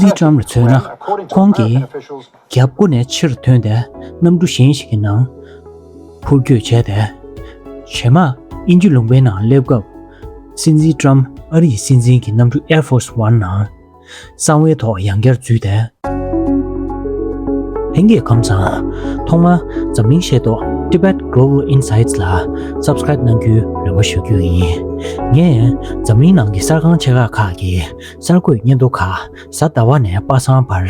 ལི་ཀྲམ་ལ་མཚོན་ན་ཁོང་གིས་རྒྱབ་སྒོ་ནས་ཕྱིར་ཐོན་ཏེ་གནམ་གྲུ་གཞན་ཞིག་གི་ནང་འཕུར་སྐྱོད་བྱས་ཏེ། བྱེ་མ་དབྱིན་ཇི་ལུང་པའི་ནང་སླེབས་སྐབས་སྲིད་འཛིན་ཀྲམ་ཨ་རིའི་སྲིད་འཛིན་གྱི་གནམ་གྲུ Air Force One ནང་གསང་བའི་ཐོག་ཡང་བསྐྱར་འཛུལ་ཏེ། ལྷན་རྒྱས་ཁམས་བཟང། ཐོག་མར་འཛམ་གླིང་ཤེས་རྟོགས Tibet Global Insights ལ Subscribe གནང་རྒྱུའི་རེ་བ་ཞུ་རྒྱུ་ཡིན། ངས་འཛམ་གླིང་ནང་གི་གསར་ཁང་ཆེ་ཁག་ཁག་གི་གསར་འགོད་སྙན་ཐོ་ཁ་གསལ་ཟླ་བ་ནས་པ་སངས་བར།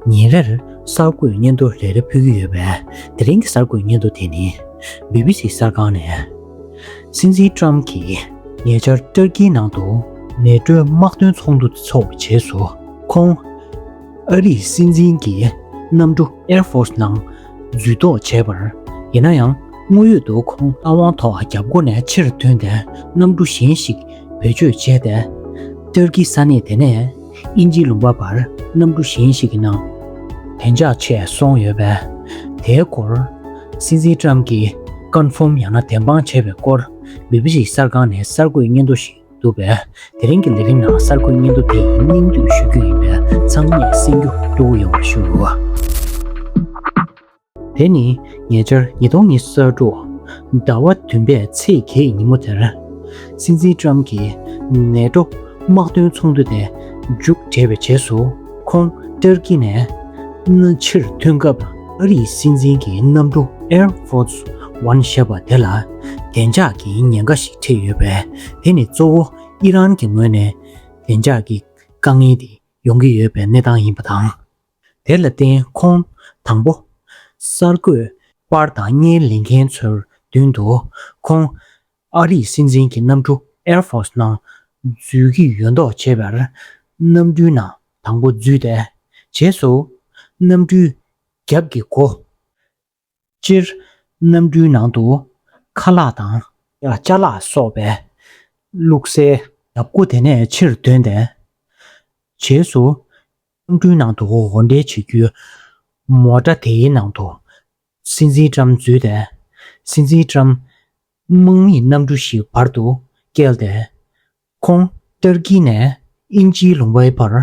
ཉིན་རེར་གསར་འགོད་སྙན་ཐོ་རེ་རེ་ཕུལ་གྱི་ཡོད་པས་དེ་རིང་གི་གསར་འགོད་སྙན་ཐོ་དེ་ནི BBC གསར་ཁང་ནས། སྲིད་འཛིན་ཀྲམ་གྱིས་ཉེ་ཆར་ཏུར་ཀིའི་ནང་དུ་ནད་འགྲོའི་དམག་དོན་ཚོགས་འདུ་འཚོགས་པའི་རྗེས་སུ་ཁོང། ཨ་རིའི་སྲིད་འཛིན་གྱི་གནམ་གྲུ Air Force ནང་འཛུལ་ལྡོག་བྱས་པར། ཡིན་ན་ཡང་དངོས་ཡོད་དུ་ཁོང་ལྷ་དབང་ཐོག་རྒྱབ་སྒོ་ནས་ཕྱིར་ཐོན་ཏེ་གནམ་གྲུ་གཞན་ཞིག་བེད་སྤྱོད་བྱས་ཏེ། ཏུར་ཀི་ས་གནས་དེ་ནས་དབྱིན་ཇིའི་ལུང་པ་པར་གནམ་གྲུ་གཞན་ཞིག་གི་ནང། བདེ་འཇགས་ཆད་སོང་ཡོད་པས། དེའི་སྐོར། སྲིད་འཛིན་ཀྲམ་གྱིས Confirm ཡང་ན་བདེན་དཔང་བྱས་པའི་སྐོར། BBC གསར་ཁང་ནས་གསར་འགོད་སྙན་ཐོ་ཞིག་བསྡུ་བས། དེ་རིང་གི་ལས་རིམ་ནང་གསར་འགོད་སྙན་ཐོ་དེ་ཡིན་སྙིང་བསྡུས་ཞུ་རྒྱུ་ཡིན་པས་ཚང་མས་གསན་རྒྱུ་གཙོ་བོ་ཡོང་བར་ཞུ། དེ་ནི་ཉེ་ཆར་ཉིས་སྟོང་ཉི་གསར་དྲུག་ཟླ་བ་བདུན་པའི་ཚེས་བརྒྱད་ཉིན་མོ་དེར། སྲིད་འཛིན་ཀྲམ་གྱི་ནད་སྒྲོ་དམག་དོན་ཚོགས་འདུ་དེ་མཇུག་བསྒྲིལ་བའི་རྗེས་སུ་ཁོང་ཏུར་ཀི་ནས་ཕྱིར་ཐོན་སྐབས་ཨ་རིའི་སྲིད་འཛིན་གྱི་གནམ་གྲུ Air Force One ཞེས་པ་དེ་ལ་བདེ་འཇགས་ཀྱི་ཉེན་ཁ་ཞིག་འཕྲད་ཡོད་པས་དེ་ནི་གཙོ་བོ་ཨི་རན་གྱི་ངོས་ནས་བདེ་འཇགས་ཀྱི་དཀའ་ངལ་དེ་ཡོང་གི་ཡོད་པའི་གནས་སྟངས་ཡིན་པ་དང། དེ་ལ་བརྟེན་ཁོང། དང་པོ། གསར་འགོད། པར་དང་བརྙན་ལེན་མཁན་ཚོའི་མདུན་དུ། ཁོང། ཨ་རིའི་སྲིད་འཛིན་གྱི་གནམ་གྲུ། Air Force། ནང་འཛུལ་གྱི་ཡོད་མདོག་བྱེད་པར། གནམ་གྲུའི་ནང་དང་པོ་འཛུལ་ཏེ། རྗེས་སུ། གནམ་གྲུའི། རྒྱབ་ཀྱི་སྒོ། སྤྱིར། གནམ་གྲུའི་ནང་དུ། ཁ་ལག་དང། ལྕགས་ལག་སོགས་པས། བླུགས་བསལ། སྐུ་དེ་ནས་ཕྱིར་དོན་ལྡན། བྱེས་སུ། གནམ་གྲུའི་ནང་དུ་འོར་འདྲེན་བྱེད་རྒྱུ། མོ་སྒྲ་དེའི་ནང་དུ། སྲིད་འཛིན་བཀྲམ་འཛུལ་ལྡན། སྲིད་འཛིན་བཀྲམ། དམག་མིས་གནམ་གྲུ་ཞིག་བར་དུ་བསྐྱལ་ཏེ། ཁོང། ཏུར་ཀི་ནས་ཨིན་ཇིའི་ལུང་བའི་བར།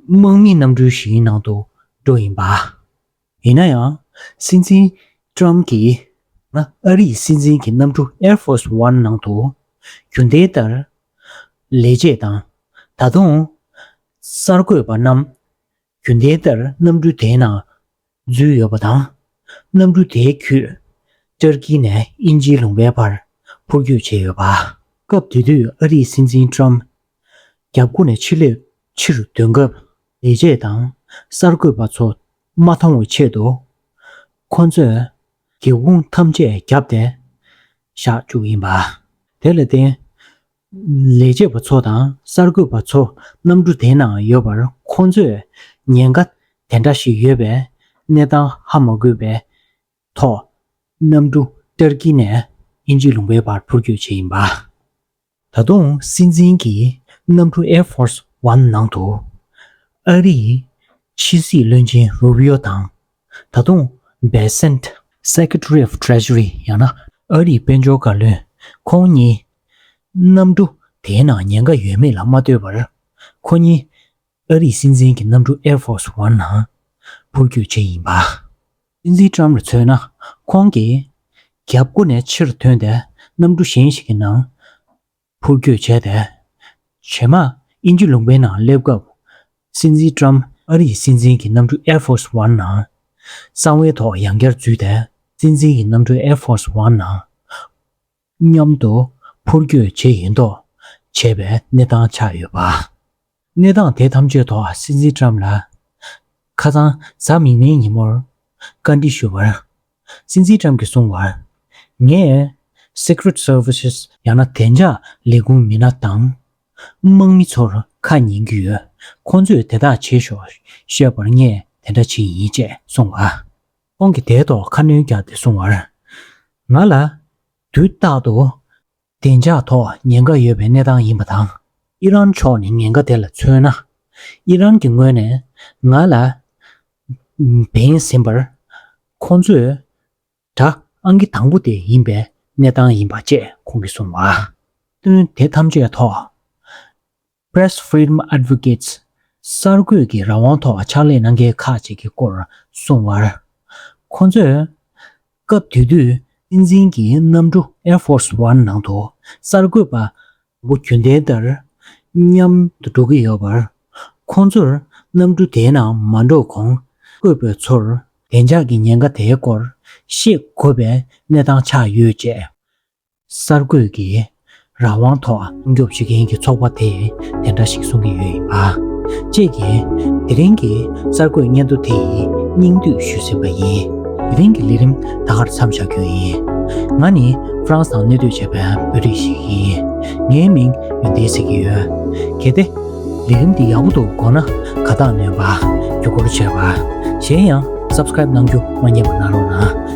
དམག་མི་རྣམས་གྲུ་བཞིའི་ནང་དུ་འགྲོ་ཡིན་པ། ཡིན་ན་ཡང། སྲིད་འཛིན Trump གྱིས་ང་ཨ་རིའི་སྲིད་འཛིན་གྱི་གནམ་གྲུ Air Force One ནང་དུ་རྒྱུ་མཐའི་ལྟར་ལས་བྱེད་དང། ད་དུང། གསར་འགོད་པ་རྣམས་རྒྱུ་མཐའི་ལྟར་གནམ་གྲུ་དེའི་ནང་རྫུས་ཡོད་པ་དང། གནམ་གྲུ་དེའི་ཁྱུས། ཏུར་ཀི་ནས་དབྱིན་ཇིའི་ལུང་པའི་བར་འཕུར་སྐྱོད་བྱས་ཡོད་པ། སྐབས་དེ་དུས་ཨ་རིའི་སྲིད་འཛིན Trump། རྒྱབ་སྒོ་ནས་ཕྱི་ལོད་ཕྱིར་འདོན་སྐབས། ལས་བྱེད་དང་གསར་འགོད་པ་ཚོ་མ་མཐོང་བའི་ཆེད་དུ། ཁོ་ཚོས་སྒེའུ་ཁུང་ཐམས་ཅད་བརྒྱབ་སྟེ་བཞག་བཅུག་ཡིན་པ། དེ་ལ་བརྟེན། ལས་བྱེད་པ་ཚོ་དང་གསར་འགོད་པ་ཚོ་གནམ་གྲུ་དེའི་ནང་ཡོད་པར་ཁོང་ཚོས་ཉེན་ཁ་དེ་འདྲ་ཞིག་ཡོད་པའི་གནས་སྟངས་ཧ་མ་དགོས་པའི་ཐོག་གནམ་གྲུ་ཏུར་ཀི་ནས་དབྱིན་ཇི་ལུང་པའི་བར་འཕུར་སྐྱོད་བྱས་ཡིན་པ། ད་དུང་སྲིད་འཛིན་གྱིས་གནམ་གྲུ Air Force One ནང་དུ་ཨ་རིའི་ཕྱི་སྲིད་བློན་ཆེན་རུ་བྷི་ཡོ་དང་ད་དུང་སྦེ་སེནད། Secretary of Treasury། ཡང་ན་ཨ་རིའི་དཔལ་འབྱོར་བཀའ་བློན་ཁོང་གཉིས་གནམ་གྲུ་དེའི་ནང་ཉེན་ཁ་ཡོད་མེད་ལ་མ་ལྟོས་པར། ཁོ་གཉིས། ཨ་རིའི་སྲིད་འཛིན་གྱི་གནམ་གྲུ Air Force One ནང་འཕུར་སྐྱོད་བྱེད་ཡིན་པ། སྲིད་འཛིན Trump ལ་མཚོན་ན། ཁོང་གིས། རྒྱབ་སྒོ་ནས་ཕྱིར་ཐོན་ཏེ་གནམ་གྲུ་གཞན་ཞིག་གི་ནང་འཕུར་སྐྱོད་བྱས་ཏེ། བྱེ་མ་ཨིན་ཇི་ལུང་པའི་ནང་སླེབས་སྐབས། སྲིད་འཛིན Trump ཨ་རིའི་སྲིད་འཛིན་གྱི་གནམ་གྲུ Air Force One ནང། གསང་བའི་ཐོག་ཡང་བསྐྱར་འཛུལ་ཏེ་སྲིད་འཛིན་གྱི་གནམ་གྲུ Air Force One ནང་མཉམ་དུ་འཕུར་སྐྱོད་བྱེད་ཡིན་མདོག་བྱས་པའི་གནས་སྟངས་ཆགས་ཡོད་པ། གནས་སྟངས་དེ་ཐམས་ཅད་ཐོག་སྲིད་འཛིན་ཀྲམ་ལ་ཁ་སང་གཟའ་མིག་སྔའི་ཉིན་མོར་བཀའ་འདྲི་ཞུ་བར། སྲིད་འཛིན་ཀྲམ་གྱིས་གསུངས་བར། ངས Secret Services། ཡང་ན་བདེ་འཇགས་ལས་ཁུངས་མི་སྣ་དང་དམག་མི་ཚོར་ཁ་ཉན་རྒྱུ་ཡོད་ཁོང་ཚོས་དེ་དག་བྱེད་ཤོག་བཤད་པར་ངས་དེ་འདྲ་བྱེད་ཡིན་ཅེས་གསུངས་བ། ཁོང་གིས་དེའི་ཐོག་ཁ་སྣོན་བརྒྱབ་སྟེ་གསུངས་བར། ང་ལ། དུས་རྟག་ཏུ། བདེ་འཇགས་ཐོག་ཉེན་ཁ་ཡོད་པའི་གནས་སྟངས་ཡིན་པ་དང། ཨི་རན་ཕྱོགས་ནས་ཉེན་ཁ་དེ་ལ་མཚོན་ན། ཨི་རན་གྱི་ངོས་ནས་ང་ལ། བེད་ཟིན་པར། ཁོང་ཚོས། དྲ་ཨང་གི་དང་པོ་དེ་ཡིན་པའི་གནས་སྟངས་ཡིན་པ་བཅས་ཁོང་གིས་གསུངས་བར། བསྟུན་དེ་ཐམས་ཅད་ཐོག། Press Freedom Advocates། གསར་འགོད་ཀྱི་རང་དབང་ཐོག་ཕྱག་ལས་གནང་མཁན་ཁག་ཅིག་གི་སྐོར་གསུངས་བར། ཁོ་ཚོས། སྐབས་དེ་དུས་སྲིད་འཛིན་གྱི་གནམ་གྲུ Air Force One ནང་དུ་གསར་འགོད་པ་མགོ་རྒྱུན་ལྡན་ལྟར་མཉམ་དུ་འགྲོ་གི་ཡོད་པར། ཁོ་ཚོར་གནམ་གྲུ་དེའི་ནང་མ་འགྲོ་གོང་གསར་འགོད་པའི་ཚོར་བདེ་འཇགས་ཀྱི་ཉེན་ཁ་དེའི་སྐོར་ཤེས་དགོས་པའི་གནས་སྟངས་ཆགས་ཡོད་ཅེས་གསར་འགོད་ཀྱིས་རང་དབང་ཐོག་སྲུང་སྐྱོབ་བྱེད་མཁན་གྱི་ཚོགས་པ་དེས་དེ་འདྲ་ཞིག་གསུང་གི་ཡོད་ཡིན་པ་བཅས་ཀྱིས་དེ་རིང་གི་གསར་འགོད་སྙན་ཐོ་དེ་ཡི་སྙིང་བསྡུས་ཞུས་ཟིན་པ་ཡིན། དེ་རིང་གི་ལས་རིམ་ད་གར་མཚམས་བཞག་རྒྱུ་ཡིན། ང་ནི France དང་གནས་སྡོད་བྱས་པའི་བོད་རིགས་ཤིག་ཡིན། ངའི་མིང་ཡོན་ཏན་ཟེར་གྱི་ཡོད། གལ་ཏེ། ལས་རིམ་འདི་ཡག་པོ་འདུག་དགོངས་ན་ག་རྟགས་ནོན་པ། རྒྱུ་སྐོར་བྱས་པ། གཞན་ཡང Subscribe གནང་རྒྱུ་མ་རྙེད་པ་གནང་རོགས་གནང།